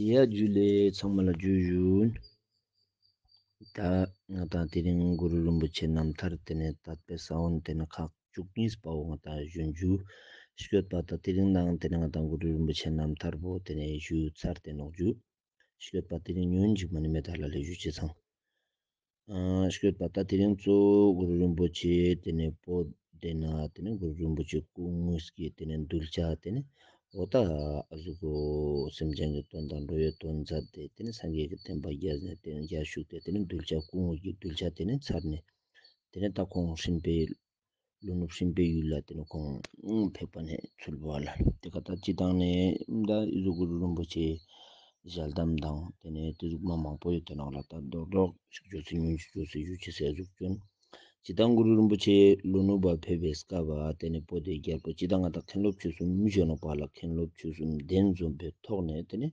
ཡ་རྒྱུད་ལས་ཚང་མ་ལ་རྒྱུད་བཞུགས། ད་ང་དང་དེ་རིང་གུ་རུ་རིན་པོ་ཆེ་རྣམ་ཐར་དེ་ནས་ད་ལྟའི་ས་བོན་དེ་ནི་ཁག་བཅུ་གཉིས་པའོ་ང་དང་གཞོན་རྒྱུད་ཤོད་པ་ད་དེ་རིང་ནའང་དེ་ནི་ང་དང་གུ་རུ་རིན་པོ་ཆེ་རྣམ་ཐར་བོ་དེ་ནས་བཞུགས་ཚར་ཏེ་ནོག་རྒྱུད་ཤོད་པ་དེ་རིང་ཉོན་ཅིག་མ་ནི་མེ་ད་ལ་ལས་བཞུགས་བྱས་ཚང། བཤོས་པ་དང་དེ་རིང་གཙོ་བོ་གུ་རུ་རིན་པོ་ཆེ་དེ་ནས་པོ་དེ་ན་དེ་ནས་གུ་རུ་རིན་པོ་ཆེ་སྐུ་དངོས་ཀྱི་དེ་ནས་འདུལ་བྱ་དེ་ནས་འོ་ད་གཟུགས་པོ་སེམས་ཅན་གྱི་དོན་དང་འགྲོ་བའི་དོན་མཛད་དེ་དེ་ནས་སངས་རྒྱས་ཀྱི་བསྟན་པ་རྒྱས་ནས་དེ་ནས་རྒྱ་བཞུགས་ཏེ་དེ་ནས་འདུལ་བྱ་སྐུ་དངོས་ཀྱི་འདུལ་བྱ་དེ་ནས་ཚར་ནས་དེ་ནས་ད་ཁོང་ཧྲིན་པའི་ལུང་ནུབ་ཤིང་པའི་ཡུལ་ལ་དེ་ནས་ཁོང་ཕེབས་པ་ནས་ཚུར་ལུས་པ་ལ་དེ་ག་ད་ཅི་དང་ནི་ད་གཟུགས་གུར་རིན་པོ་ཆེའི་ཞལ་གདམས་དང་དེ་ནས་དེ་གཟུགས་མ་མང་པོ་ཡོད་དེ་རྣམས་ལ་ད་རྡོག་རྡོག་ཅིག་བྱོས་ཚེ་ཉོན་ཅིག་བྱོས་ཚེ་གཞུ་ཅི་སའི་གཟུགས་ཀྱང་ཅི་དང་གུར་རིན་པོ་ཆེ་ལུང་ནུབ་བར་ཕེབས་པའི་སྐབས་པ་དེ་ནས་པོ་ཏི་རྒྱལ་པོ་ཅི་དང་ང་དང་མཁན་སློབ་ཆོས་གསུམ་བྱོན་ནོ་པ་ལ་མཁན་སློབ་ཆོས་གསུམ་གདན་འཛོམས་པའི་ཐོག་ནས་དེ་ནས་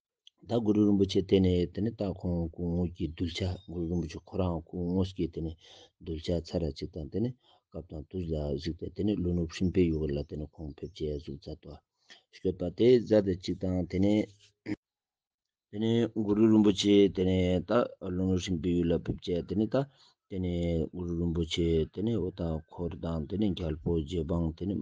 ད་གུ་རུ་རིན་པོ་ཆེ་བལྟས་ནས་དེ་ནས་ད་ཁོང་སྐུ་དངོས་ཀྱི་གདུལ་བྱ་གུ་རུ་རིན་པོ་ཆེ་ཁོ་རང་སྐུ་དངོས་ཀྱི་དེ་ནས་གདུལ་བྱ་ཚར་ར་གཅིག་དང་དེ་ནས་སྐབས་དང་དུས་ལ་གཞིགས་ཏེ་དེ་ནས་ཀླུ་ནུབ་ཧྲིན་པའི་ཡུལ་ལ་དེ་ནས་ཁོང་ཕེབས་རྗེས་གཟུགས་ཚ་དོ་བསྐྱོད་པ་དེ་བཟའ་ཟླ་གཅིག་དང་དེ་ནས་དེ་ནས་གུ་རུ་རིན་པོ་ཆེ་དེ་ནས་ད་ཀླུ་ནུབ་ཧྲིན་པའི་ཡུལ་ལ་ཕེབས་རྗེས་དེ་ནས་ད་དེ་ནས་གུ་རུ་རིན་པོ་ཆེ་དེ་ནས་འུ་ད་འཁོར་དང་དེ་ནས་རྒྱལ་པོ་རྗེ་འབངས་དེ་ནས་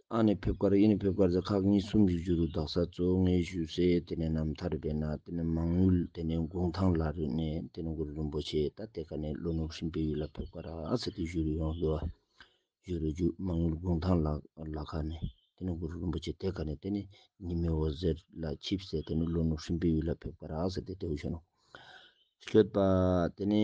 ཨ་ནི་ཕེབས་སྐར་ཨི་ནི་ཕེབས་སྐར་ཟེར་ཁག་གཉིས་གསུམ་བཞི་བཅུ་རུ་འདག་ས་གཙོ་ངེས་བཞུགས་སའི་དེ་ནས་ནམ་མཐའ་རི་བས་ན་དེ་ནས་མང་ཡུལ་དེ་ནས་དགུང་ཐང་ལ་རི་ནས་དེ་ནས་གུ་རུ་རིན་པོ་ཆེ་ད་ལྟའི་ཁ་ནས་ལོ་ནུབ་ཧྲིན་པའི་ཡུལ་ལ་ཕེབས་སྐར་ཨ་ཟེར་ཏེ་བཞུགས་རུ་ཡོང་ལོ་བཞུགས་རུ་བཞུགས་མང་ཡུལ་དགུང་ཐང་ལ་ཁ་ནས་དེ་ནས་གུ་རུ་རིན་པོ་ཆེ་དེ་ཁ་ནས་དེ་ནས་ཉི་མའི་འོད་ཟེར་ལ་ཆིབས་སེ་དེ་ནས་ལོ་ནུབ་ཧྲིན་པའི་ཡུལ་ལ་ཕེབས་སྐར་ཨ་ཟེར་ཏེ་དེ་བཞུགས་ནོ། བསྐྱོད་པ། དེ་ནས་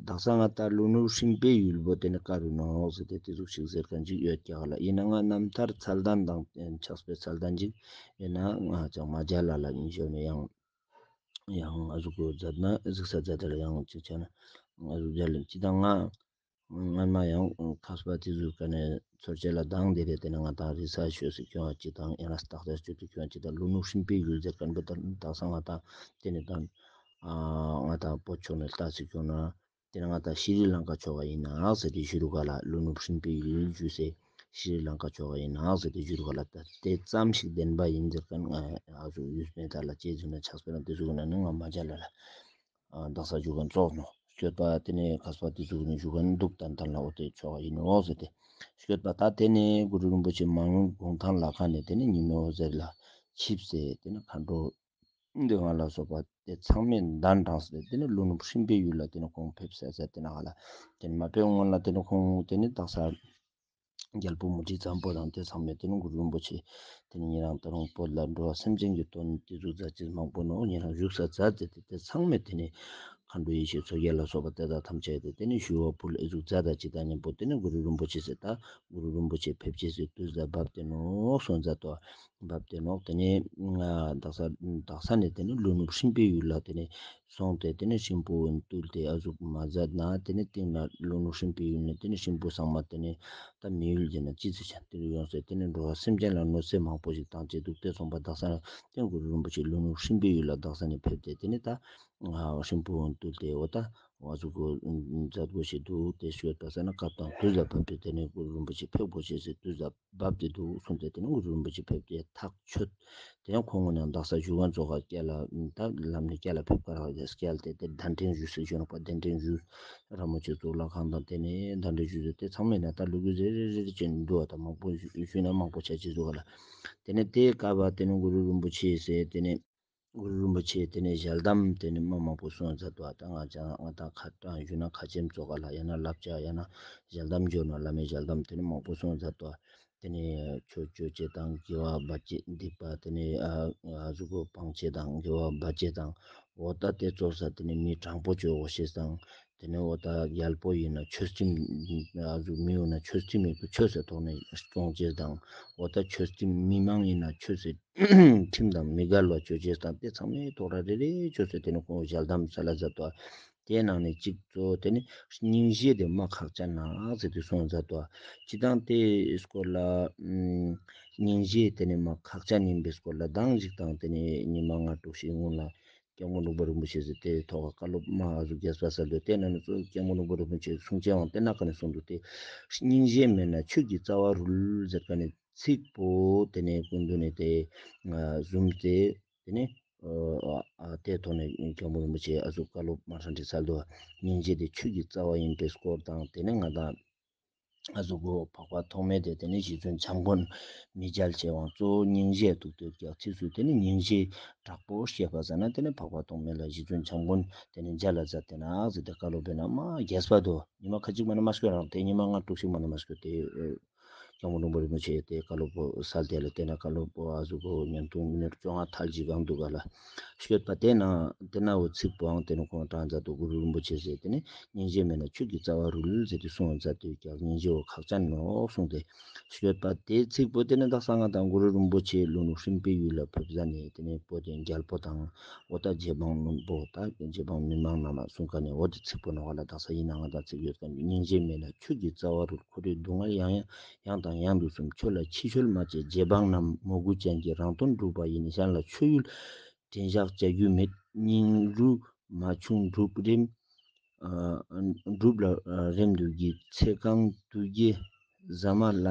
དག་ས་སྔ་ལྟར་ལུག་ནུབ་ཧྲིན་པའི་ཡུལ་བོ་དེ་ནི་དཀར་བའི་ནང་ལོགས་སུ་དེ་ལྟའི་གཟུགས་ཤིག་ཟེར་ག་འཇིག་ཡོད་ཀྱི་ཨ་ལ་ཡིན་ན་ང་རྣམ་ཐར་ཚལ་གདན་དང་བསྟན་ཆགས་པའི་ཚལ་གདན་འཇིག་ཡོད་ན་ང་ཅང་མ་བརྒྱལ་ལ་ལ་ཉིན་ཞོར་ནས་ཡང་ཡང་གཟུགས་ས་རྫ་དར་ཡང་གཅིག་ཆགས་ན་གཟུགས་བརྒྱལ་ལན་གཅིག་དང་ང། སྔར་མ་ཡང་ཁ་སྤ་རྩིས་བཟོས་སྐབས་ནས་ཚོར་བྱེད་ལ་སྡང་འདི་རེད་དེ་ནི་ང་དང་རི་ས་ཆོས་སུ་སྐྱོན་བ་གཅིག་དང་ཡང་ན་རྟགས་ཆགས་སྤྱོད་དུ་སྐྱོན་གཅིག་དང་ལུས་ནུབ་ཤིང་པའི་ཡུལ་ཟེར་སྐད་འབུ་ལྟར་དག་ས་ང་དང་དེ་ནི་དང། ང་དང་པོ་ཕྱོགས་ནས་རྟགས་གཅིག་སྐྱོན་ན། དེ་ནི་ང་དང་ཤི་རི་ལང་ཀ་ཕྱོགས་བ་ཡིན་ནག་ཟེར་དུས་བཞུར་ག་ལ་ལུས་ནུབ་ཤིང་པའི་ཡུལ་བཞུད་སའི་ཤི་རི་ལང་ཀ་ཕྱོགས་བ་ཡིན་ནག་ཟེར་དུས་བཞུར་ག་ལ་ད་དེ་ཙམ་ཞིག་བདེན་པ་ཡིན་ཟེར་སྐད་ང་ཡང་ཡག་བཞུགས་ཡུལ་སྨད་དག་ལ་དཔྱད་བཟོས་ན་ཆགས་སྤེལ་ལ་འདི་བཟོས་ཀྱི་ན་ནི་ང་མ་བྱ་ལ་ལ། བདག་ས་བཞུགས་ཀྱང་བཙོག་ནོ། བསྐྱོད་པ་དེ་ནས་ཁ་སོགས་དེ་བཞུགས་ནས་བཞུགས་ཀྱང་འདུག་དང་ཐང་ལ་འོ་དེ་ཆོ་ག་ཡིན་ནོ་ཟེར་ཏེ། བསྐྱོད་པ་ད་དེ་ནས་གུ་རུ་རིན་པོ་ཆེ་མང་གུང་ཐང་ལ་ཁ་ནས་དེ་ནས་ཉིན་ནོ་ཟེར་ལ་ཆིབས་སེ་དེ་ནས་མཁའ་འགྲོ། འདི་ང་ལ་སོགས་པ་དེ་ཚང་མས་མདངས་དྲངས་སེ་དེ་ནས་ཀླུ་ནུབ་ཧྲིམ་པའི་ཡུལ་ལ་དེ་ནས་ཁོང་ཕེབས་སེ་ཟེར་དེ་ནས་ཧ་ལ་དེ་ནས་མ་ཕེབས་སྔོན་ལ་དེ་ནས་ཁོང་དེ་ནས་བདག་ས། རྒྱལ་པོ་མུ་ཁྲི་ཙམ་པོ་དང་དེ་ཚང་མས་དེ་རིང་གུ་རུ་རིན་པོ་ཆེ་དེ་ནི་ཉིན་རང་ད་རུང་བོད་ལ་འགྲོ་བ་སེམས་ཅན་གྱི་དོན་ནི་དེ་གཟུགས་རྫ་ཆེན་མང་པོ་ནོ་ཉིན་རང་བཞུགས་ས་རྫ་དེ་སྟེ་དེ་ཚང་མས་དེ་ནི་མཁའ་འགྲོ་ཡེ་ཤེས་མཚོ་རྒྱལ་ལ་སོགས་པ་དེ་དག་ཐམས་ཅད་དེ་དེ་ནི་ཞུ་བ་པོ་ལ་ཨི་གཟུགས་རྫ་དང་སྤྱི་དང་གཉེན་པོ་དེ་ནི་གུ་རུ་རིན་པོ་ཆེ་ཟེར་ད་གུ་རུ་རིན་པོ་ཆེ་ཕེབས་སྐྱེས་སུ་དུས་ཟླ་འབབ་སྟེ་ནོག་སོང་རྫ་དོ། འབབ་སྟེ་ནོག་དེ་ནི། དག་ས་ནས་དེ་ནི་ཀླུ་ནུབ་ཧྲིན་པོའི་ཡུལ་ལ་དེ་ནི་སོང་སྟེ་དེ་ནས་ཤིང་བུ་བོན་བཏུལ་ཏེ་ཨ་གཟུགས་མ་ཟ་ན་དེ་ནས་སྟེང་ན་རླུང་ནུ་ཧྲིམ་པས་ཡུལ་ནས་དེ་ནས་ཤིང་བུ་བཟང་མ་དེ་ནས་ད་མི་ཡུལ་འདི་ན་ཅི་ཚེ་ཆ་འདི་རུ་ཡོང་ཟེར་དེ་ནས་འགྲོ་བ་སེམས་ཅན་ལ་གནོད་འཚེ་མང་པོ་ཞིག་བཏང་བྱས་འདུག་དེ་ཚོང་པ་བདག་ས་ནས་སྟེང་གུ་རུ་རིན་པོ་ཆེ་རླུང་ནུ་ཧྲིམ་པའི་ཡུལ་ལ་བདག་ས་ནས་ཕེབས་ཏེ་དེ་ནས་ད་ཤིང་བུ་བོན་བཏུལ་ཏེ་འོ་ད་ཨ་གཟུགས་གོ་མཛད་དགོས་ཞེས་འདུག་དེ་ཞོལ་དུ་ཟ་ན་སྐབས་དང་དུས་ལ་བབ་སྟེ་དེ་ནས་གུ་རུ་རིན་པོ་ཆེ་ཕེབས་དགོས་བྱས་ཟེར་དུས་ཟབ། བབས་ཏེ་འདུག་གསུངས་ཏེ་དེ་ནས་དངོས་གྲུབ་རིན་པོ་ཆེ་ཕེབས་ཏེ་ཐག་ཆོད། དེ་ནས་ཁོང་ངོས་ནས་རྡ་སར་བཞུགས་མཁན་ཚོ་ཁ་སྐད་ལ་ད་ལམ་ནས་སྐད་ལ་ཕེབས་ཁར་ཧོ་ཡ་སྐད་ལ་བལྟས་ཏེ་ཟླ་འབྲིང་བཞུགས་སུ་བྱོན་རོགས་པ་ཟླ་འབྲིང་བཞུགས་ར་མོ་ཆེ་གཙུག་ལག་ཁང་དང་དེ་ནས་ཟླ་འབྲིང་བཞུགས་ཟེར་ཏེ་ཚང་མས་ན་ད་ལུ་གུ་ཟེར་རེ་རེ་རེ་བྱས་ནས་འདུག་བ་དང་མང་པོ་བཞུགས་ན་མང་པོ་བྱ་ཅི་ཟུག་ག་ལ། དེ་ནས་དེ་ཀ་བ་དེ་ནས་དངོས་གྲུབ་རིན་པོ་ཆེ་ཟེར་དེ་ནས། གུ་རུ་རིན་པོ་ཆེས་དེ་ནས་ཞལ་གདམས་དེ་ནས་མི་མང་པོ་གསུང་མཛད་དོ་ཨ་ཏི་སྔགས་འཆང་སྔགས་དང་ཁ་བཏགས་བཞུགས་ན་ཁ་ཆེམས་གཙོ་ག་ལ་ཡང་ན་བསླབ་བྱ་ཡང་ན་ཞལ་གདམས་འབྱོར་ན་བླ་མའི་ཞལ་གདམས་དེ་ནས་མང་པོ་གསུང་མཛད་དོ། དེ་ནས་ཆོས་སྤྱོད་ཆེ་དང་དགེ་བ་བ་ཅས་འདུས་པ་དེ་ནས་གཟུགས་པོ་སྤང་ཆེ་དང་དགེ་བ་བ་ཅས་དང་འོ་ད་ལྟའི་ཙོག་ས་དེ་ནས་མི་དྲང་པོ་ཆོས་འོ་ཤེས་དང་དེ་ནས་འོ་ད་རྒྱལ་པོ་ཡིན་ན་ཆོས་ཁྲིམས་རུ་མི་ཡོང་ན་ཆོས་ཁྲིམས་ཡག་པོ་ཆོས་སྲིད་ཐོག་ནས་སྐྱོང་ཆེད་དང་འོ་ད་ཆོས་ཁྲིམས་མི་མང་ཡིན་ན་ཆོས་སྲིད་ཁྲིམས་དང་མི་དགར་ལ་བྱོས་ཆེད་དང་དེ་ཚང་མའི་ཐོག་ར་རེ་རེ་ཆོས་སྲིད་དེ་ནས་ཁོང་ཞལ་གདམས་ཚལ་ལ་འཛབ་ཏོ། དེའི་ནང་ནས་གཅིག་གཙོ་དེ་ནས་རྙིང་བཞེས་དེ་མ་ཁག་ཅག་ནག་ཟེར་དེ་སོང་འཛབ་ཏོ། སྤྱི་དང་དེ་སྐོར་ལ་རྙིང་བཞེས་དེ་ནས་མ་ཁག་ཅག་ཉིན་པའི་སྐོར་ལ་གདངས་གཅིག་དང་དེ་ནས་ཉི་མ་ལྔ་དྲུག་ཞིག་སྔོན་ལ་སྐྱེ་དངོས་རླུང་པོ་རིན་པོ་ཆེ་ཟེར་དེའི་ཐོག་བཀའ་སློབ་དམའ་བ་རུ་རྒྱས་པ་ཟེར་དུས་དེ་ནང་ནས་གཙོ་བོ་སྐྱེ་དངོས་རླུང་པོ་རིན་པོ་ཆེའི་གསུང་ཆེན་དབང་དེ་ནག་ག་ནས་གསུང་འདུག་སྟེ། རྙིང་གཞན་མེད་ན་ཆོས་ཀྱི་རྩ་བ་རུལ་ཟེར་ག་ནས་ཚིག་པོ་དེ་ནས་ཀུན་འདུས་ནས་དེ་བཟུང་སྟེ། དེ་ནས་དེའི་ཐོག་ནས་སྐྱེ་དངོས་རིན་པོ་ཆེའི་ཨ་ཟུག་བཀའ་སློབ་དམའ་ཧྲ་འདྲི་ཚར་དུས་སྙིང་རྗེ་དེ་ཆོས་ཀྱི་རྩ་བ་ཡིན་པའི་སྐོར་དང་དེ་ནས་ང་དང། གཟུགས་སྐུ་འཕགས་པ་ཐོགས་མེད་དེ་དེ་ནི་ཞེས་བྱུང་བྱམས་མགོན་མི་རྒྱལ་བྱེད་དབང་གཙོ་བོ་སྙིང་རྗེས་དུག་ཏུ་བརྒྱག་ཚིགས་སུ་དེ་ནི་སྙིང་རྗེའི་དྲག་པོ་ཞེས་པར་ཟ་ན་དེ་ནི་འཕགས་པ་ཐོགས་མེད་ལ་ཞེས་བྱུང་བྱམས་མགོན་དེ་ནི་མཇལ་ལ་བཟའ་དེ་ནགས་བཟའ་དེ་ཀ་ལོ་བས་ན་མ་རྒྱས་པ་དོ། ཉི་མ་ཁ་ཅིག་མ་ན་མ་སྐྱོ་རང་དེ་ཉི་མ་སྔར་དྲུག་ཞིག་མ་ན་མ་སྐྱོ་དེས་སྐྱང་པོ་འབྲོང་པོ་རིན་པོ་ཆེ་དེ་ཀ་ལོ་བོ་སལ་དེ་ལ་བལྟས་ན་ཀ་ལོ་བོ་ཨ་གཟུགས་སྐུ་ཉམས་ཐུང་མི་ནུར་བཅོ་ལྔ་མཐར་གྱིས་གང་འདུག་ག་ལ། ཤོད་པ་དེ་ན་དེ་ན་འོད་ཚིག་པོའང་དེ་ནི་གོང་དྲངས་མཛད་དོ་གུ་རུ་རིན་པོ་ཆེས་ཟེར་ཏེ་ནི་སྙིང་རྗེ་མེད་ན་ཁྱོད་ཀྱི་རྩ་བ་རུ་ལུལ་མཛད་དེ་གསུང་མཛད་དུས་ཀྱང་སྙིང་རྗེ་བོ་ཁག་ཅག་ནོ་གསུངས་ཏེ། ཤོད་པ་དེ་ཚིག་པོ་དེ་ནི་བདག་གསང་སྔགས་དང་གུ་རུ་རིན་པོ་ཆེའི་ལུང་རིགས་ཧྲིལ་པོའི་ཡུལ་ལ་ཕེབས་ས་ནི་དེ་ནི་པོ་དེ་རྒྱལ་པོ་དང་འོ་ད་རྗེ་འབངས་མི་འབོ་ད་རྗེ་འབངས་མི་མང་རྣམས་ལ་གསུང་ཁ་ནས་འོ་དེ་ཚིག་པོ་ནོར་བ་ལ་བདག་ས་ཡིན་ན་ང་དང་ཚིག་ཡོད་ཀྱང་སྙིང་རྗེ་མེད་ན་ཁྱོད་ཀྱི་རྩ་བ་རུ་ལ་ཁོ་རེའི་སྡུག་བསྔལ་ཡང་ཡང་ཡང་དང་ཡང་དུ་གསུམ་ཁྱོད་ལ་ཕྱི་ཆོལ་མ་བཅས་རྗེ་འབངས་རྣམས་མོ་རྒུ་ཅན་གྱི་རང་དོན་སྒྲུབ་པ་ཡིན་ན་གཞན་ལ་ཆོས་ཡུལ་བྲན་བཞག་བྱ་རྒྱུ་མེད་སྙིང་རུས་མ་ཆུང་སྒྲུབ་རིམ་སྒྲུབ་ལ་རེམ་འདུག་གི་ཚེ་གང་འདུག་རྒྱའི་ཟ་མ་ལ་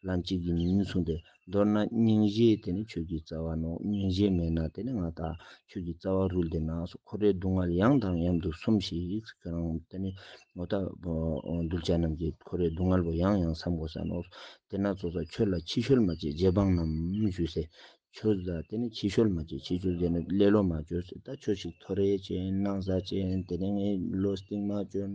ལ་འཇིག་གི་མིན་གསུངས་ཏེ། མདོར་ན་སྙིང་རྗེ་དེ་ནི་ཁྱོད་ཀྱི་རྩ་བ་ནོ། སྙིང་རྗེ་མེད་ན་དེ་ནི་ང་དང་ཁྱོད་ཀྱི་རྩ་བ་རུལ་དེ་ན་སོ་ཁོ་རའི་སྡུག་བསྔལ་ཡང་དང་མཉམ་དུ་སོམས་ཤིག་ཁྱོད་རང་དེ་ནི་ངོ་ཐ། གདུལ་བྱ་རྣམས་ཀྱིས་ཁོ་རའི་སྡུག་བསྔལ་བ་ཡང་ཡང་བསམ་གོ་ས་ནོ། དེ་ན་ཙོ་ཙཱ་ཁྱོད་ལ་ཕྱི་བཤོལ་མ་བྱེད་རྗེ་འབངས་རྣམས་ཞུས་སེ། ཁྱོད་ཙོ་ཙཱ་དེ་ནི་ཕྱི་བཤོལ་མ་བྱེད་ཕྱི་བྱོལ་དེ་ནི་ཀླད་ལོ་མ་བྱོས་སོ། ད་ཁྱོད་ཤིག་ཐོ་རེ་ཅན་སྣང་བཟའ་ཅན་དེ་ནི་ཀླད་ལོ་སྟེང་མ་བྱོན།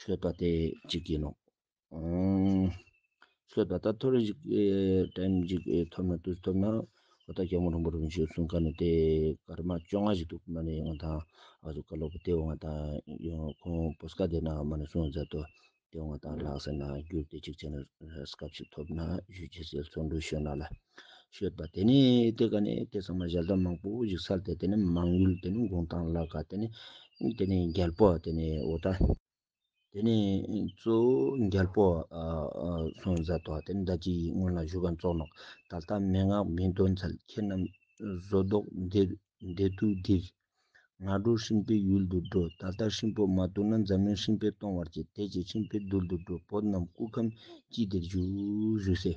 ཤོད་པ་དེ་གཅིག་ཡིན་ནོ། ཤོད་པ་ད་ཐོར་ཞིག་ཏེམ་ཞིག་ཐོར་ན་དུས་ཐོར་ན་ཨོ་ད་ཀྱང་མོ་རང་པོ་རང་བྱོས་གསུང་ག་ནི་དེ་ཀར་མ་བཅོ་ང་ཞིག་འདུག་མ་ནི་ང་དང་ཨ་ཟུ་ཀ་ལོ་པོ་དེའོ་ང་དང་ཡོང་ཁོང་པོས་ཀ་དེ་ན་མ་ནི་སོང་མཛད་དོ་དེའོ་ང་དང་ལགས་ཟེར་ན་རྒྱུར་དེ་གཅིག་བྱས་ན་རེས་སྐབས་ཞིག་ཐོབ་ན་ཞུས་ཀྱི་ཟེར་སོང་འདུག་ཤོད་ན་ལ། ཤོད་པ་དེ་ནི་དེ་ག་ནས་དེ་ཚང་མ་ཞལ་གདམས་མང་པོ་བཞུགས་ཚར་ཏེ་དེ་ནི་མང་ཡུལ་དེ་ནི་མགོན་ཐང་བླ་ག་དེ་ནི་དེ་ནི་རྒྱལ་པོ་དེ་ནི་ཨོ་ད་དེ་ནི་གཙོ་བོ་རྒྱལ་པོ་སོན་བཟའ་ཐོ་དེ་ནི་ཟླ་གཅིག་ཡིན་སྔོན་ལ་བཞུགས་གམ་བཙོག་ནོག་ད་ལྟ་མན་ངག་མི་འདོན་ཚལ་ཁྱེད་རྣམས་བཟོ་བཟློག་འདེད་དུ་བསྡིགས། ང་འགྲོ་ཧྲིན་པའི་ཡུལ་དུ་འགྲོ་ད་ལྟ་ཧྲིན་པོ་མ་བཏུལ་ན་འཛམ་གླིང་ཧྲིན་པས་སྟོང་བར་བྱེད་དེ་ཅི་ཧྲིན་པའི་རྡུལ་དུ་འགྲོ་བོད་རྣམས་སྐུ་ཁམས་ཅི་བདེར་བཞུགས།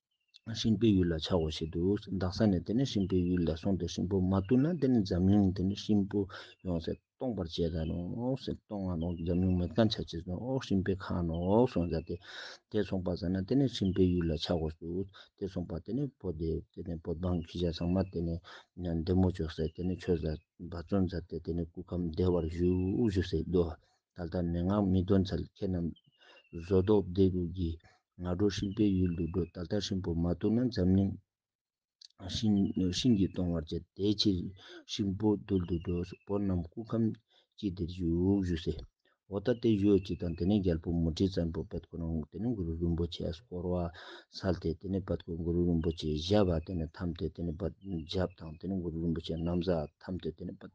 ཧྲིན་པོའི་ཡུལ་ལ་ཆགས་འོ་ཞེས་འདུག་འདག་ས་ནས་དེ་ནས་ཧྲིན་པོའི་ཡུལ་ལ་སོང་སྟེ་ཧྲིན་པོ་མ་བཏུལ་ན་དེ་ནས་འཛམ་གླིང་དེ་ནས་ཧྲིན་པོ་ཡོང་ཟེར་སྟོང་པར་བྱས་ད་ནོ་ཟེར་སྟོང་ང་ནོ་འཛམ་གླིང་མི་སྐམ་ཆ་བྱེད་ཟོ་ཧྲིན་པོའི་ཁ་ནོ་སོང་ཟེར་ཏེ་དེ་སོང་པ་ཟེར་ན་དེ་ནས་ཧྲིན་པོའི་ཡུལ་ལ་ཆགས་འོ་ཟེར་དེ་སོང་པ་དེ་ནས་བོ་དེ་དེ་ནས་བོ་འབངས་ཁྱི་ཤ་ཚང་མ་དེ་ནས་འདེ་མོ་བྱོས་ཟེར་དེ་ནས་ཆོས་ཟེར་འབའ་བརྩོན་ཟེར་ཏེ་དེ་ནས་སྐུ་ཁམས་བདེ་བར་བཞུགས་བཞུགས་ཟེར་དུ་ད་ལྟ་མན་ངག་མི་སྟོན་ཚལ་ཁྱེད་རྣམས། བཟོ་ལྡོག་བདེ་སྡུག་གི་ང་རོ་ཧྲིག་པའི་ཡུལ་དུ་འགྲོ་ད་ལྟ་ཧྲིན་པོ་མ་བཏུལ་ན་འཛམ་གླིང། ཧྲིན་གྱིས་སྟོང་བར་བྱེད་དེའི་ཕྱིར་ཧྲིན་པོ་བཏུལ་དུ་འགྲོ་བོ་རྣམས་སྐུ་ཁམས་སྐྱིད་དེར་བཞུགས་བཞུགས་ཟེར། འོ་ད་ལྟའི་གཞུག་ཅིག་དང་དེ་ནས་རྒྱལ་པོ་མུ་ཁྲི་བཙན་པོ་པད་ཀོ་རང་དེ་ནས་གུ་རུ་རིན་པོ་ཆེས་བསྐོར་བ་ཚར་ཏེ་དེ་ནས་པད་ཀོས་གུ་རུ་རིན་པོ་ཆེའི་བཞབས་པ་དེ་ནས་འཐམས་ཏེ་དེ་ནས་བཞབས་དང་དེ་ནས་གུ་རུ་རིན་པོ་ཆེ་རྣམ་བཟའ་འཐམས་ཏེ་དེ་ནས་བསྟོད།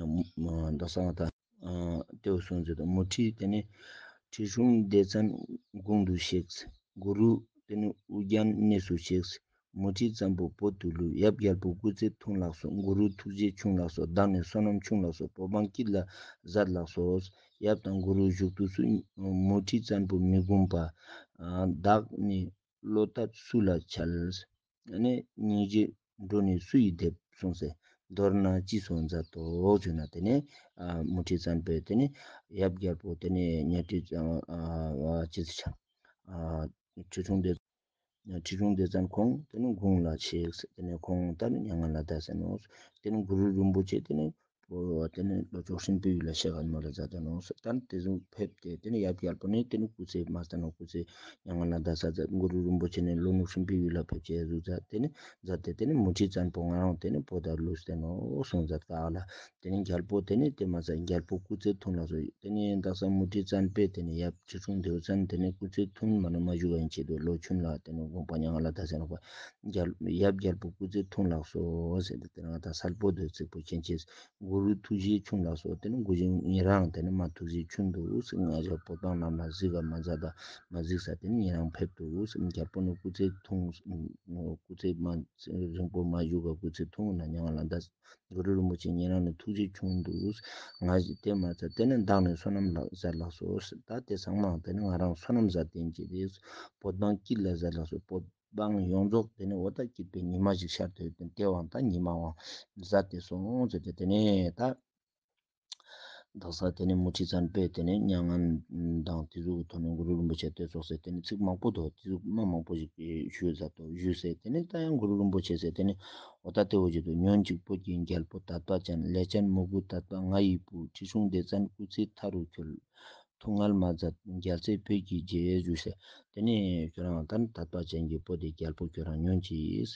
རྡོ་གསང་བ་དང། ལྟེ་བ་སྲུང་མཛད་དུ་མོ་ཁྲི་དེ་ནས་ཁྲི་སྲུང་བདེ་བཙན་དགུང་དུ་གཤེགས། གུ་རུ་དེ་ནས་དབུ་རྒྱན་གནས་སུ་གཤེགས། མོ་ཁྲི་ཙམ་པོ་བོ་དུ་ལུས་ཡབ་རྒྱལ་པོ་སྐུ་ཚེ་ཐུང་ལགས་སོ་གུ་རུ་ཐུགས་རྗེ་ཆུང་ལགས་སོ་བདག་ནི་བསོད་ནམས་ཆུང་ལགས་སོ་བོ་འབངས་སྐྱིད་ལ་གཟར་ལགས་སོ། ཡབ་དང་གུ་རུ་བཞུགས་དུས་སུ་མོ་ཁྲི་ཙམ་པོ་མི་འགུམས་པ། བདག་ནི་བློ་ཐབས་སུ་ལ་འཆལ། ནི་སྙིང་རྗེ་འགྲོ་ནི་སུ་ཡིས་འདེབས་གསུངས་སེ། མདོར་ན་ཅི་སོགས་མཛའ་དོགས་བརྗོད་ན་དེ་ནི། མུ་ཁྲི་བཙན་པོས་དེ་ནི་ཡབ་རྒྱལ་པོ་དེ་ནི་གཉའ་ཁྲི་བཙན་བ་ཅི་ཟེར་བྱ། ཁྲི་འཁྲུངས་དེ། ཁྲི་འཁྲུངས་དེ་བཙན་ཁོང་དེ་ནི་དགུང་ལ་ཆིག། དེ་ནི་ཁོང་ལྟར་མྱ་ངན་ལ་དད་ཟེར་ནོ། དེ་ནི་གུ་རུ་རིན་པོ་ཆེ་དེ་ནི་བོར་བ་དེ་ནི་ལོ་ཅོག་ཧྲིན་པོའི་ཡུལ་ལ་ཤེས་ག་ནི་མ་ལེ་བཟའ་ཟླ་ནང་སོ་དར་དེ་ཟུག་ཕེབས་ཏེ་དེ་ནི་ཡབ་ཀྱི་ཨལ་པོ་ནི་དེ་ནི་སྐུ་ཚེ་མ་ཟ་ནོ་སྐུ་ཚེ་ཡ་ང་ན་ཟླ་ཟ་ཟ་མགོ་རུ་རིན་པོ་ཆེ་ནི་ལོ་ནུབ་ཧྲིན་པོའི་ཡུལ་ལ་ཕེབས་ཀྱི་ཟུག་ཟ་དེ་ནི་ཟ་དེ་དེ་ནི་མུ་ཁྲིའི་ཙན་པོ་ང་རང་དེ་ནི་བོ་ད་ལུ་སྟེ་ནོ་སོང་ཟ་ད་ལ་དེ་ནི་འགྱལ་པོ་དེ་ནི་དེ་མ་ཟ་འགྱལ་པོ་སྐུ་ཚེ་ཐུང་ལ་ཟུག་དེ་ནི་འདག་ཟ་མུ་ཁྲིའི་ཙན་པོས་དེ་ནི་ཡབ་ཁྱི་ཁྲུང་དེའུ་ཙན་དེ་ནི་སྐུ་ཚེ་ཐུང་མ་ནི་མ་བཞུགས་བ་ཡིན་ཆེད་དུ་ལོ་ཆུང་ལ་དེ་ནི་དགོངས་པ་ཡ་ང་ལ་ཟླ་ཟེར་ནོ་བ། ཡབ་རྒྱལ་པོ་སྐུ་ཚེ་ཐུང་ལགས་སོ། དེ་རང་དང་སར་སྤོ་སྡོད་ཚིགས་པོ་མཁྱེན་ཆེ། གུ་རུའི་ཐུགས་རྗེའི་ཆུང་ལགས་སོ། དེ་ནི་གུ་རུ་ཉིད་རང་དེ་ནི་མ་ཐུགས་རྗེའི་ཆུང་དུ། ང་ཅག་པོ་ཏང་རྣམས་ལ་གཟིགས་ཀ་མ་མཛད་དང་མ་གཟིགས་ས་དེ་ནི་ཉིད་རང་ཕེབས་དུ། རྒྱལ་པོ་ནི་སྐུ་ཚེ་ཐུང། སྐུ་ཚེ་རིང་པོ་མ་བཞུགས་ཀ་སྐུ་ཚེ་ཐུང་ན་མྱང་ང་ལ་འདའ། རྡོ་རི་རིན་པོ་ཆེ་ཉན་རང་ལ་ཐུགས་རྗེ་ཆུང་འདུག་ང་བཞིན་དེ་མ་ཚར་དེ་ནི་བདག་ནི་བསོད་ནམས་ལགས་ཟེར་ལགས་སོ་ད་དེ་སང་མང་དེ་ནི་ང་རང་བསོད་ནམས་ཟ་བསྟེན་གྱི་རེད་བོད་འབངས་སྐྱིད་ལ་ཟེར་ལགས་སོ་བོད་འབངས་ཡོངས་རྫོགས་དེ་ནི་འོ་ད་སྐྱིད་པའི་ཉི་མ་ཞིག་ཤར་དུས་དེ་དེ་བང་ད་ཉི་མ་བང་ཟ་དེ་སོང་ཟེར་དེ་དེ་ནས་ད། བདག་སར་དེ་ནས་མུ་ཁྲི་ཙར་འབོད་དེ་ནས་མྱ་ངན་དང་དེ་གཟུགས་དོ་ནས་གུ་རུ་རིན་པོ་ཆེ་བསྟོད་ཆོག་ཟེར་དེ་ནས་ཚིག་མང་པོ་དོ་དེ་གཟུགས་སྨྲ་མང་པོ་ཞིག་ཞུས་ཟ་དོ་ཞུས་ཟེར་དེ་ནས་ད་ཡང་གུ་རུ་རིན་པོ་ཆེ་ཟེར་དེ་ནས་འོ་ད་དེ་འོ་ཅི་དུ་ཉོན་ཅིག་པོ་ཀྱི་རྒྱལ་པོ་དད་པ་ཅན་ལས་ཅན་མོ་གུ་དད་པ་ང་ཡི་བུ་ཁྲི་ཆུང་སྡེ་བཙན་སྐུ་ཚེའི་མཐའ་རུ་ཁྱོད། དུ་ངར་མ་བརྫབ་རྒྱལ་རྩེ་བོད་ཀྱི་རྗེས་ཡོད་ཞུས་ཟེར། དེ་ནས་ཁྱོད་རང་ལྟར་དད་པ་ཅན་གྱི་པོ་ཏི་རྒྱལ་པོ་ཁྱོད་རང་ཉོན་ཅིག།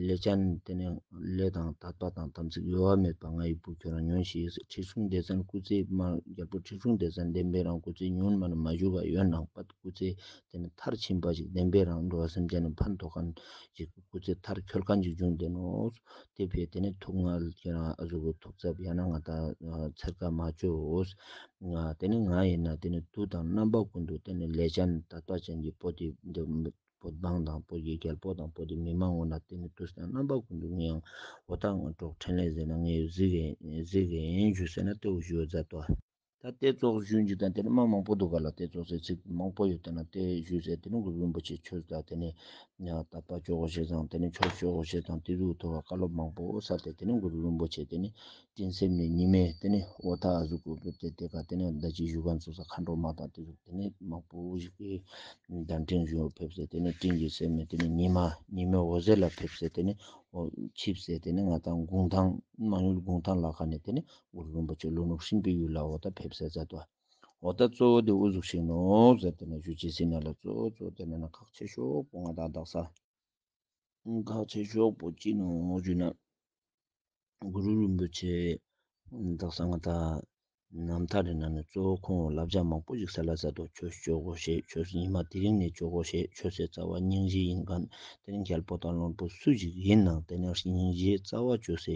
ལེ་ཅན། དེ་ནས་ལེ་དང་དད་པ་དང་དམ་ཚིག་གཡོ་བ་མེད་པ་ང་ཡི་བུ་ཁྱོད་རང་ཉོན་ཞིག་ཟེར་ཁྲི་སྲོང་ལྡེ་བཙན་སྐུ་ཚེ་དམར་རྒྱལ་པོ་ཁྲི་སྲོང་ལྡེ་བཙན་བདེན་པའི་རང་སྐུ་ཚེ་ཉུང་མ་ནི་མ་བཞུགས་པ་ཡོད་ནང་པ་སྐུ་ཚེ་དེ་ནི་མཐར་ཕྱིན་པ་ཞིག་བདེན་པའི་རང་འགྲོ་བ་སེམས་ཅན་ནི་ཕན་ཐོགས་གང་ཞིག་སྐུ་ཚེ་མཐར་འཁྱོལ་གང་ཞིག་འབྱུང་བདེན་ནོ། དེ་བས་དེ་ནི་ཐུགས་མངལ་གྱི་རང་གཟུགས་ཀྱི་ཐུགས་ཚབ་ཡང་ན་ང་དང་འཚེར་ཀ་མ་བཅོའོ། དེ་ནི་ང་ཡིན་ན་དེ་ནི་དུག་དང་རྣམ་པ་ཀུན་དུ་དེ་ནི་ལས་ཅན་དག་པ་ཅན་གྱི་པོ་ཏི་པོ་འབངས་དང་པོ་ཡི་གེར་པོ་དང་པོ་ཏི་མི་མང་བོ་ན་དེ་ནི་དུག་དང་རྣམ་པ་ཀུན་དུ་ངི་ཡང་བོ་ད་ང་གྲོགས་ཕྲན་ལས་ཟེར་ན་ངི་ཡོད་གཟིགས་གཟིགས་ཡིན་ཞུ་ཟེར་ན་དེ་བཞུ་བཟའ་ཏོ། ད་ལྟའི་བཙོག་ཞུན་གྱི་དང་དེ་ནི་མ་མང་པོ་འདུག་ག་ལ་ཏེ་བཙོག་ཟེར་ཚིག་མང་པོ་ཡོད་ད་ན་ཏེ་ཞུ་ཟེར་དེ་ནི་མགུར་རིན་པོ་ཆེ་ཁྱོད་ད་དེ་ནི་ད་པ་ཅོག་གོ་ཞེས་དང་དེ་ནི་ཆོག་ཤོག་གོ་ཞེས་དང་དེ་གཟུགས་མཐོ་བ་བཀའ་སློབ་མང་པོ་ས་ཏེ་དེ་ནི་མགུར་རིན་པོ་ཆེ་དེ་ནི་སྤྲིན་སེམས་ནི་ཉི་མས་དེ་ནི་འོ་ད་གཟུགས་གོ་བོད་དེ་དེ་ག་དེ་ནི་ཟླ་གཅིག་བཞུགས་ག་འཚོ་ས་མཁའ་འགྲོ་མ་དང་དེ་གཟུགས་དེ་ནི་མང་པོ་ཞིག་གི་དང་སྤྲིན་བཞུགས་ལ་ཕེབས་ཟེར་དེ་ནི་སྤྲིན་གྱི་སེམས་ནི་དེ་ནི་ཉི་མ་ཉི་མས་འོ་ཟེར་ལ་ཕེབས་ཟེར་དེ་ནི་འོ་ཆིབས་ཟེར་དེ་ནི་ང་དང་དགུང་ཐང་མང་ཡུལ་དགུང་ཐང་ལ་ཁ་ནས་དེ་ནི་དབུ་རུ་རིན་པོ་ཆེ་ལུག་ནུབ་ཧྲིན་པའི་ཡུལ་ལ་འོ་ད་ཕེབས་སའི་ཟེར་ཏོ། འོ་ད་གཙོ་བོ་དེ་དབུ་གཟུགས་ཤིག་ནོ་ཟེར་དེ་ན་བཞུད་ཅེས་ཟིན་ན་ལ་གཙོ་བོ་གཙོ་བོ་དེ་ན་ན་ཁག་ཆེ་ཤོག་པོ་ང་དང་བདག་ས། ཁག་ཆེ་ཤོག་པོ་གཅིག་ནོ་བཞུད་ན། དབུ་རུ་རིན་པོ་ཆེ། བདག་ས་ང་ད། ནམ་ཐག་རེ་ན་ནི་གཙོ་བོ་ཁོང་བླ་བྱ་མང་པོ་ཞིག་ཟེར་ལ་ཟེར་ཏོ་ཁྱོད་ཤོག་གོ་ཞེས་ཁྱོད་ཡིན་མ་དེ་རིང་ནས་ཤོག་གོ་ཞེས་ཁྱོད་སའི་རྩ་བ་སྙིང་གཞི་ཡིན་གནས་དེ་རིང་ཤལ་པོ་དང་གླང་པོ་སུ་ཞིག་ཡིན་ནའང་དེ་ནས་སྙིང་གཞིའི་རྩ་བ་གཅོད་སའི་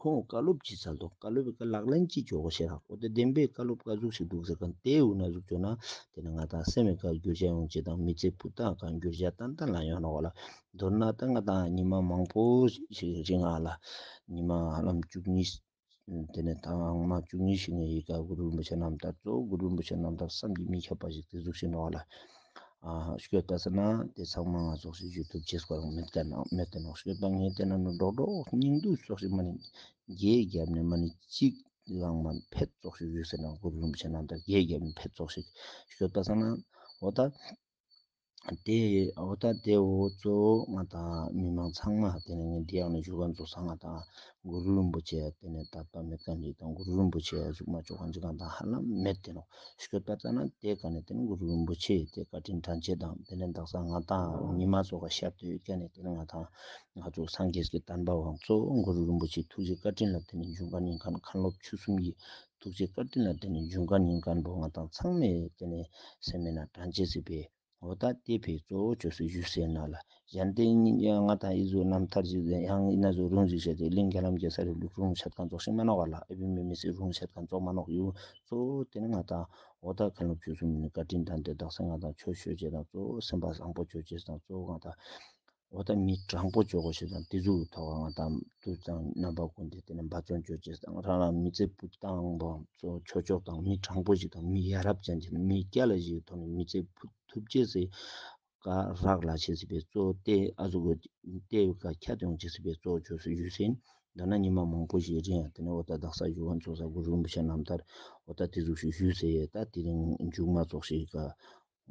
ཁོང་བཀའ་སློབ་ཀྱི་ཚལ་དུ་བཀའ་སློབ་པའི་ལག་ལེན་གྱི་ཇོ་བོ་ཞེས་དང་གོ་བདེ་ལྡན་པའི་བཀའ་སློབ་བཀའ་གཟུགས་ཤིག་འདུག་ཟེར་གི་འདི་དབུས་ན་གཟུགས་བྱོན་ན་དེ་ནི་ང་དང་སེམས་བའི་བཀའ་བསྒྱུར་བྱ་ཡོང་ཅེས་དང་མི་ཚེ་ཕུགས་དང་བཀའ་འགྱུར་བྱ་ཏན་ཏན་ལ་ཡོང་རོགས་ལ་མདོར་ན་ད་ང་དང་ཉི་མ་མང་པོ་ཞིག་རིང་ཨ་ལ་ཉི་མ་ལམ་བཅུ་གཉིས་དེ་ནས་ད་ངང་མ་བཅུ་གཉིས་ཤིག་ངའི་ཡི་ག་གུ་རུ་རིན་པོ་ཆེ་རྣམས་དང་གཙོ་བོ་གུ་རུ་རིན་པོ་ཆེ་རྣམས་དང་བསམ་གྱིས་མི་ཁྱབ་པ་ཞིག་དེ་གཟུགས་བྱོན་རོགས་ལ། བསྐྱོད་པ་ཟེར་ན་དེ་ཚང་མ་ང་ཚོ་ཞིག་ཞུ་ཐུབ་ཆེ་སྐོར་མེད་ག་ནང་མེད་དེ་ནང་བསྐྱོད་པ་ངས་དེ་ན་ནི་འགྲོགས་འགྲོགས་སྙིང་སྡུག་ཚོགས་ཞིག་མ་ནི་རྒྱས་བརྒྱབ་ནས་མ་ནི་གཅིག་ལང་མ་ཕེབས་ཚོགས་ཞིག་ཞུ་ཟེར་ན་སྒོར་ལུམ་ཆེ་ནང་དང་རྒྱས་བརྒྱབ་ནས་ཕེབས་ཚོགས་ཞིག་བསྐྱོད་པ་ཟེར་ན་འོ་ད་དེ་འོ་ད་དེ་འོ་གཙོ་བོ་ང་དང་མི་མང་ཚང་མ་དེ་ནས་ངས་འདི་ཡང་ནི་བཞུགས་སྒར་འཛུགས་ས་ང་དང་གུ་རུ་རིན་པོ་ཆེ་ཡང་དེ་ནས་ད་ལྟ་མེད་གང་ཞིག་དང་གུ་རུ་རིན་པོ་ཆེ་ཡང་གཟུགས་མ་མཆོག་གང་ཅི་གང་དང་ཧ་ལམ་མེད་དེ་ནོ། ཞུས་པ་ལྟར་ན་དེ་ག་ནས་དེ་ནས་གུ་རུ་རིན་པོ་ཆེ་ཡིས་དེ་བཀའ་དྲིན་དྲན་བྱེད་དང་དེ་ནས་བདག་ཚང་ང་དང་ཉི་མ་སོགས་ཀ་ཞབས་ཏུ་ཡོད་ཀ་ནས་དེ་ནས་ང་དང་ང་ཚོ་སངས་རྒྱས་ཀྱི་དམ་པ་བང་ཚོ་གུ་རུ་རིན་པོ་ཆེའི་ཐུགས་རྗེ་བཀའ་དྲིན་ལ་དེ་ནས་འབྱུང་བཀའ་ཉིན་གང་མཁན་སློབ་ཆོས་གསུམ་གྱི་ཐུགས་རྗེ་བཀའ་དྲིན་ལ་དེ་ནས་འབྱུང་བཀའ་ཉིན་གང་འགྲོ་ང་དང་ཚང་མས་དེ་ནས་སེམས་མེད་ན་དྲན་བྱེད་སྲིད་པས། འོ་ད་ལྟའི་བོད་གཙོ་བོ་ཆོས་སྲིད་ཞུ་སའི་ནང་ལ་གཞན་དོན་གཉིས་ཀྱི་ང་དང་ཨི་བཟོའི་རྣམ་ཐར་གྱི་ཡང་ཨི་ན་བཟོའི་རུང་བཞིན་བྱས་ཏེ་གླིང་ག་ལམ་རྒྱལ་ས་རིང་ལུགས་རུང་བྱེད་གང་རྫོགས་ཤིང་མ་གནང་བ་ལ་ཨེ་བུད་མེད་མི་སེར་རུང་བྱེད་གང་རྫོགས་མ་གནང་ཡུལ་གཙོ་བོ་དེ་ནི་ང་དང་འོ་ད་མཁན་སློབ་ཆོས་གསུམ་ནི་བཀའ་དྲིན་དྲངས་ཏེ་བདག་སེམས་ང་དང་ཆོས་ཞུ་བྱེད་དང་གཙོ་བོ་སེམས་པ་བཟང་པོ་བྱོས་བྱེད་དང་གཙོ་བོ་ང་དང། འོ་ད་མི་དྲང་པོ་ཇོ་གོ་ཞེས་དང་ཏི་ཛུ་ཐོག་ཁང་ང་དང་དུ་ཙང་རྣམ་པ་ཀུན་དེ་དེ་ནས་འབའ་ཙོང་ཇོ་ཅེས་དང་རང་རང་མི་ཚེ་བུ་དང་བ་ཚོ་ཆོས་ཕྱོགས་དང་མི་དྲང་པོ་ཞིག་དང་མི་ཡ་རབས་ཅན་གྱི་མི་སྐྱ་ལ་ཞིག་ཐོག་ནས་མི་ཚེ་བུ་ཐུབ་ཅེས་སི་ཀ་རག་ལ་བྱེད་སྲིད་པའི་གཙོ་ཏེ་ཨ་ཟུ་གོ་ཏེ་བི་ཀ་ཁྱ་ཏོན་བྱེད་སྲིད་པའི་གཙོ་ཇོ་སུ་ཡུས་སིན་མདོར་ན་ཉི་མ་མང་པོ་ཞིག་རིང་ཡང་དེ་ནས་འོ་ད་བདག་ས་གཞུ་བ་འཚོ་ས་གུ་རུ་རིན་པོ་ཆེ་རྣམས་ལྟར་འོ་ད་ཏི་ཛུ་ཞིག་བཞུད་ཟེར་ཡས་ད་དེ་རིང་མཇུག་མ་རྫོགས་ཤིག་ག་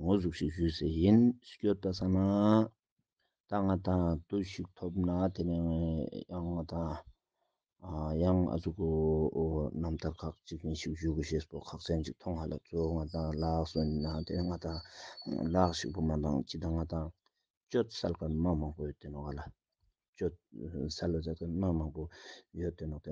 ངོ་གཟུགས་ཤིག་ཞུས་ཟེར་ཡིན་སྐྱོ་ལྟ་ས་ན་ད་ང་དང་དུ་ཞིག་ཐོབ་ན་དེ་ནས་ཡང་ང་དང་ཡང་ཨ་ཚོགས་ཀྱི་རྣམ་ཐར་ཁག་ཅིག་ཅིག་ཞིག་ཞུས་དགོས་ཞེས་སོགས་ཁག་ཚན་ཅིག་མཐོང་ཧ་ལ་གཙོ་བོ་ང་དང་ལགས་སོ་ན་དེ་ནས་ང་དང་ལགས་ཞིག་བུ་མ་དང་ཁྱི་དང་ང་དང་སྤྱོད་གསལ་ཀར་དམག་མང་པོ་ཡོད་དེ་ནས་ང་ལ་སྤྱོད་གསལ་ལ་ཟེར་ཀར་དམག་མང་པོ་ཡོད་དེ་ནས་དེ་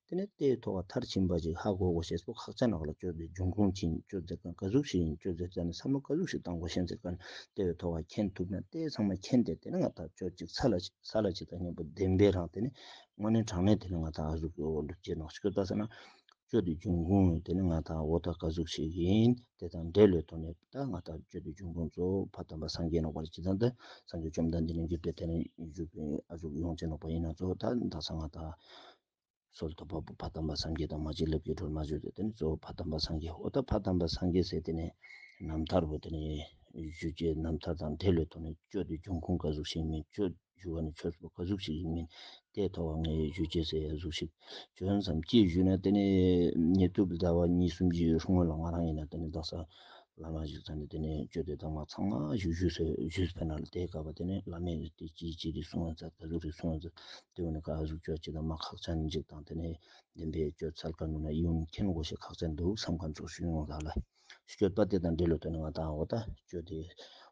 དེ་ནི་རྟའི་ཐོ་བ་མཐར་ཕྱིན་པ་ཞིག་ཧ་གོ་གོ་ཞེས་སོགས་ཁག་ཅན་ལག་ལ་གཅོད་པའི་འབྱུང་ཁུངས་ཅན་གྱི་གཅོད་རྫས་ཀྱང་དགའ་གཟུགས་ཤིག་ཡིན་གཅོད་རྫས་བཙལ་ནས་ཚང་མ་དགའ་གཟུགས་ཤིག་བཏང་གོ་ཤེས་ཚེ་གནྡྷེ་བའི་ཐོ་བ་མཁྱེན་ཐུབ་ན་རྟའི་ཚང་མ་མཁྱེན་ཏེ་དེ་ནི་ང་ཐག་ཆོད་ཅིག་ས་ལ་ཅིག་ས་ལ་ཅིག་དང་སྙིང་པོ་བདེན་པས་རང་དེ་ནི་དངོས་གནས་དྲང་གནས་དེ་ནི་ང་ཐག་ཨ་གཟུགས་ཀྱི་འོག་འདུག་ཅེས་ནག་ཆུ་ཁྱོད་བལྟ་ས་ན། གཅོད་རྟའི་འབྱུང་ཁུངས་དེ་ནི་ང་ཐག་འོག་ཐག་དགའ་གཟུགས་ཤིག་ཡིན་དེ་དང་འདྲེ་ལོའི་ཐོག་ནས་བལྟ་ང་ཐག་གཅོད་རྟའི་འབྱུང་ཁུངས་གཙོ་བོ་བ་དམ་པ་སངས་རྒྱས་ནོག་པ་ལ་ཇི་ཙམ་དུ་སངས་རྒྱས་བཅོམ་ལྡན་འདས་ནི་འཇུག་པའི་དེ་ནི་འཇུག་པའི་ཨ་གཟུགས་ཡོངས་ཅན་ནོག་པ་ཡིན་ན་གཙོ་བོ་བདག་ནི་བདག་ས་ང་ཐག་གསོལ་ཏོ། བ་བ་དམ་པ་སངས་རྒྱས་དང་མ་བྱིན་རླབས་ཀྱི་སྒྲོན་མ་བརྗོད་དེ་དེ་ནས་གཙོ་བོ་བ་དམ་པ་སངས་རྒྱས་ཨོ་ད་བ་དམ་པ་སངས་རྒྱས་སེ་དེ་ནས་རྣམ་ཐར་བོ་དེ་ནས་བཞུད་ཅེས་རྣམ་ཐར་དང་དེ་ལས་ཐོག་ནས་བཅོས་ཏེ་འབྱུང་ཁུངས་ཀ་གཟུགས་ཤིག་མིན་བཅོས་བཞུད་བ་ནི་ཆོས་ཚུལ་ཀ་གཟུགས་ཤིག་མིན་ཏེ་ཐོག་བ་ངས་བཞུད་ཅེས་སའི་གཟུགས་ཤིག་བྱོན་སམ་ཅེས་བཞུད་ན་དེ་ནི་ཉེ་དུ་བདེ་བ་གཉིས་གསུམ་གྱི་སྔོན་ལ་ང་རང་ཡིན་ན་དེ་ནི་བདག་ས་བླ་མ་ཞིག་ཚང་ནས་དེ་ནས་བཅོས་ཏེ་བདག་མ་ཚང་མ་ཞིག་བཞུད་ས་བཞུད་ཕེབས་ན་དེ་ག་བ་དེ་ནི་བླ་མས་དེ་ཅིའི་ཕྱིར་རིགས་གསུང་བ་མཛད་ད་གཟུགས་རིགས་གསུང་བ་མཛད། དེ་བས་ན་ཁ་གཟུགས་ཆོས་སྐྱེས་དང་མ་ཁག་ཆ་མི་འཇིག་དང་དེ་ནས་བདེན་པའི་སྤྱོད་ཚལ་ཁ་ནུ་ན་གཡུང་མཁྱེན་དགོས་ཞེས་ཁག་ཅན་འདུག་བསམ་ཁ་འཇོག་ཤུགས་ཡོང་ལགས་ལ། སྤྱོད་པ་དེ་དང་འབྲེལ་ལོ་དོན་ང་དང་བོ་ད་སྤྱོད་དེ།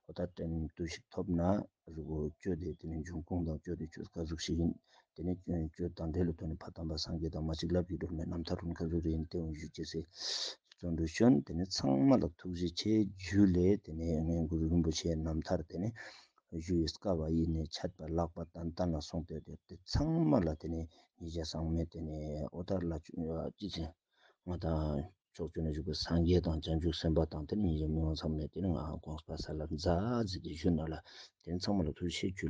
བོ་ད་དྲན་བསྟུན་ཞིག་ཐོབ་ན་གཟུགས་བོ་སྤྱོད་དེ་དེ་ནས་འབྱུང་ཁུངས་དང་སྤྱོད་དེ་ཆོས་ཁ་གཟུགས་ཤིག་ཡིན། དེ་ནས་སྐྱོན་སྤྱོད་དང་འབྲེལ་ལོ་དོན་ནི་ཕ་དམ་པ་སངས་རྒྱས་དང་མ་གཅིག་ལབ་ཀྱིས་སྒྲུབ་ནས་རྣམ་ཐར་རུང་ཁ་གཟུགས་རེ་ཡིན་ཏེ་འོན་ཞུ་སྐྱེ་སའི་བརྩོན་འགྲུས་བྱོན་དེ་ནས་ཚང་མ་ལ་ཐུགས་རྗེ་ཆེ་རྒྱུ་ལས་དེ་ནས་ངའི་གུ་རུ་རིན་པོ་ཆེའི་རྣམ་ཐར་དེ་ནི་བཞུགས་ཡུལ་སྐ་བ་ཡི་ནས་ཆད་པར་ལགས་པ་དང་ལྟ་ན་སོང་སྟེ་དེ་ཚང་མ་ལ་དེ་ནས་ཉེས་བྱས་བཟང་མེད་དེ་ནས་ཨོ་དར་ལ་བྱོན་ཡོད་ཀྱི་ཚེ། ང་དང་ཕྱོགས་བཅུ་ན་བཞུགས་པའི་སངས་རྒྱས་དང་བྱང་ཆུབ་སེམས་དཔའ་དང་དེར་ཉེས་བྱས་མི་མང་ཚང་མས་དེ་ནས་ང་དགོངས་པ་ས་ལ་འཛག་ཟེར་ཏེ་བཞུགས་ན་ལ་དེ་ཚང་མ་ལ་ཐུགས་བཞེད་བཅུ།